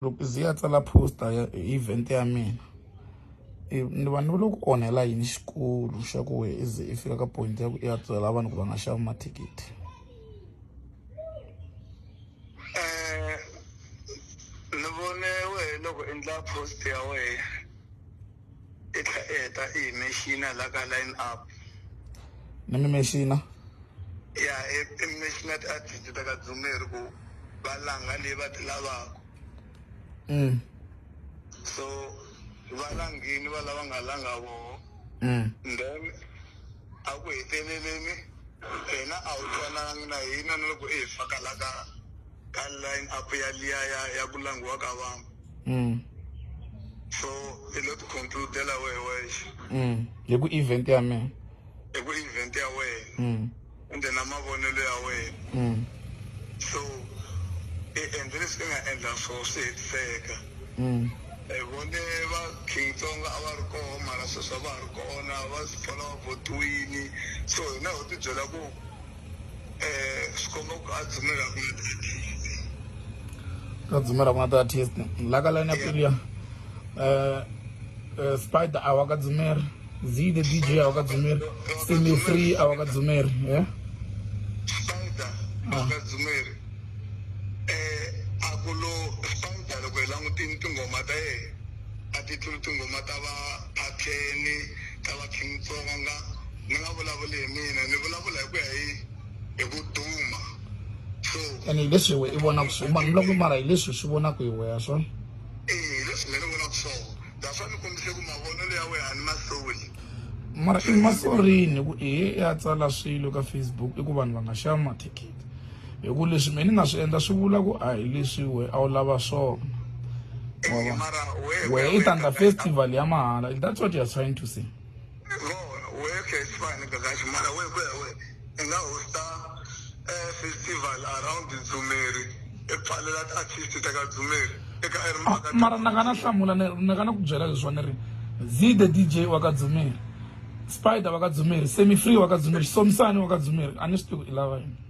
Loko ndzi ya tsala poster ya event ya mina ni va ni loko onhela yini xikulu xa ku wena i ze i fika ka point ya ku i ya byela vanhu ku va nga xavi mathikithi ni vone wehe loko endla post ya wehe. i tlhe i heta i hi mexina la ka line up ni mi mexina ya i mi mexina ti-artist ta ka dzumeri ku va langa leyi va ti lavaka mm. so va langini va lava nga langa voho mm. then a ku heteleleni hina a wu twanangi na hina na loko i hi fakalaka ka line up ya liya ya ya ku langiwa ka vanhu mm. so i lo ti concludela wehe wexe mm. hi ku event ya mina hi ku event ya wena mm. ende na mavonelo ya wena mm. so i endle leswi i nga endla swo swi hetiseka mm. hi vone va king tsonga a va ri koho mara sweswi a va ha ri kona va swi pfala va votiwini so hina ho tibyela ku ka dzumela ku na ti-artist la ka line apeli ya um spider a wa ka dzumeri z the dj a wa ka dzumeri semi free a wa ka dzumeri e spider a wa ka dzumeri um a ku lo spider loko hi langutini tinghoma ta yena a ti tluli tinghoma ta va phatheni ta va King Tsonga ni nga vulavuli hi mina ni vulavula hi ku ya hi hi ku duma so ene hi leswi we i vonaka swi ma ni loko mara hi leswi swi vonaka hi weya swona eh leswi mina ni vonaka swona that's why ni kombise ku mavonelo ya wena a ni masoli mara i masorini ku i ya tsala swilo ka facebook i ku vanhu va nga xava mathikithi hi ku leswi mina ni nga swi endla swi vula ku a hi leswi we a wu lava swona we i tanda festival ya mahala that's what you're trying to say festival around dzumeri epfalela ti-artist ta ka dzumeri eka ah, mara na ka na hlamula na ka na ku byela leswiwa ni ri z the dj wa ka dzumeri spider wa ka dzumeri semi free wa ka dzumeri somisani wa ka dzumeri a ni swi tivi ku i lava yini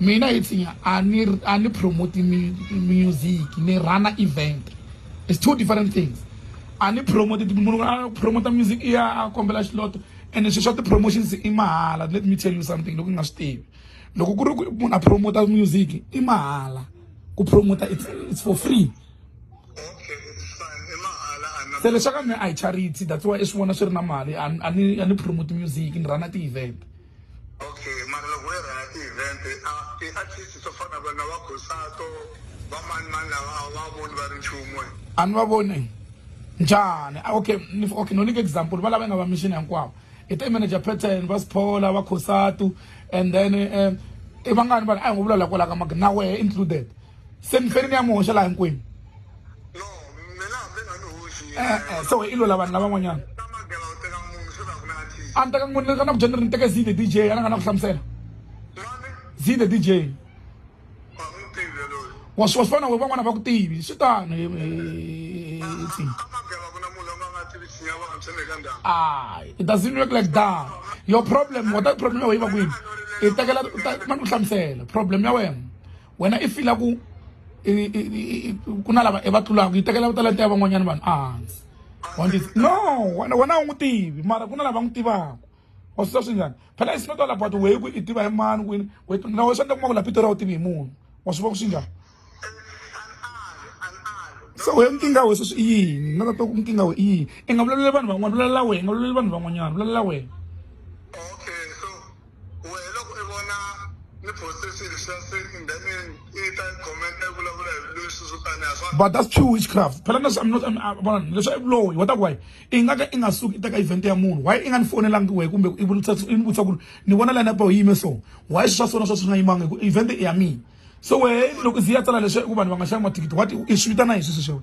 mina hi tsinya a ni a ni promote music ni rana event it's two different things a ni promote munhu a promote music i ya a kombela xiloto and swilo swa ti-promotions i mahala let me tell you something loko nga swi tivi loko ku ri ku munhu a promota music i mahala ku promota it's, it's for free se leswaku mi a hi charity that's why i swi vona swi ri na mali a ni a ni promote music ni rana ti-event okay mara loko wo rhanga ti-event a ti-artist to fana na vona va khosato va mani mani lava a va voni va ri nchumu e. a ni va voni njhani ah, okay okay no nyika example va lava nga va mission hinkwavo i te manager pattern va siphola va khosatu and then um i vangani vanhu a hi ngo vulavula kwalaka maka na wehe included se mi feri mi ya mi hoxa laha hinkwenu e-e so i lula vanhu lavan'wanyana a ni teka n'wini ka na ku dyeni ri ni teke zide dj a na nga na ku hlamusela zide dj wa swi wa swi vona we van'wana va ku tivi swi tano ay it doesn't work like that your problem wata problem ya wena yi va kwini i tekela mani ku hlamusela problem ya wena wena i fila ku ku na lava i va tlulaka yi tekela talenta ya van'wanyana vanhu ehansi wandisi no wena wena a wu n'wi tivi mara ku na lava n'wi tivaka wa swi sa swi njhani phela it's not all about wehe ku i tiva hi mani kwini na we swi endla kuma ku la pito ra wu tivi hi munhu wa swi vona ku swi njhani so we nkingha we sweswi i yini na tata ku nkingha we i yini i nga vulavuleli vanhu van'wana vulalela wena nga vulavuleli vanhu van'wanyana vulalela wena Wehe loko i vona ni poste swilo leswiya se and then i ta i comment i vulavula hi leswi swo taniya swa but that's pure witchcraft phela na I'm not vona leswi i vuloyi wa ta ku wayi i nga ka i nga suki i teka event ya munhu wayi i nga ni fonelangi wehe kumbe i vutisa i ni vutisa ku ri ni vona line apo yi yime so wayi swi swa sona swa swi nga yimanga hi ku event i ya mina so wehe loko i ze i ya tsala leswi ku vanhu va nga xavi mathikithi what i swi vitana hi swi sweswo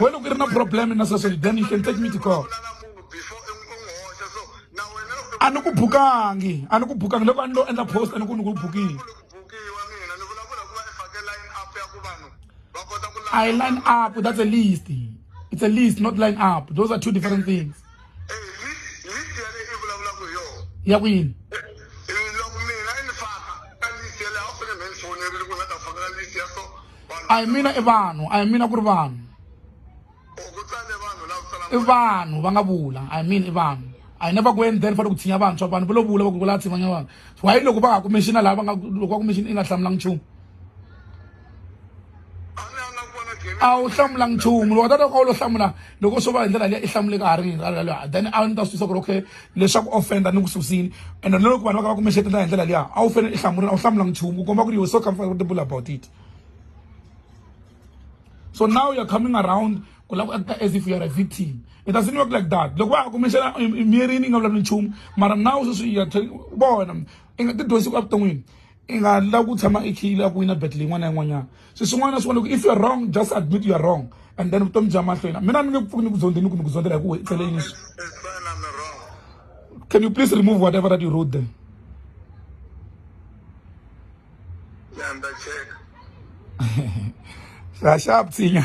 wena ku ri na problem na sasweli then you can take me to court a ni ku bukangi a ni ku bukangi loko a ni lo endla post a ni ku ni ku bukile I line up. That's a list. It's a list, not line up. Those are two different things. ya ku yini a hi mina i vanhu a hi mina ku ri vanhu i vanhu va nga vula a hi mina i vanhu I never go and then for ku tshinya vantshwa vanhu va lo vula va ku kula tshimanya vanhu why loko va nga ku mention lava nga loko va ku mention i nga hlamulanga nchumu a wu hlamulanga nchumu loko tata ka u lo hlamula loko swo va hi ndlela leyi i hlamuleka ha ri ralaloha then a ni ta swi tisa ku ri okay leswaku offenda ni ku susile and na loko vanhu va ka va ku mexetela hi ndlela liya a wu fanele i hlamula a wu hlamula nchumu ku komba ku ri you so comfortable about it so now you're coming around ku lava ku acta as if you're a victim it doesn't work like that loko wa ha kumexela miyerini i nga vulavuli nchumu mara now sweswi bona i nga tidyondzisi ku evuton'wini i nga la ku tshama i khiyile a ku wina battle yin'wana na yin'wanyana se swin'wana na swin'wana loko if you're wrong just admit you're wrong and then vutomi bya mahlweni mina ni nge ku pfuki ni ku zonde ni ku ni ku zondzela hi ku i tsele yini can you please remove whatever that you wrote there ra xa ptsinya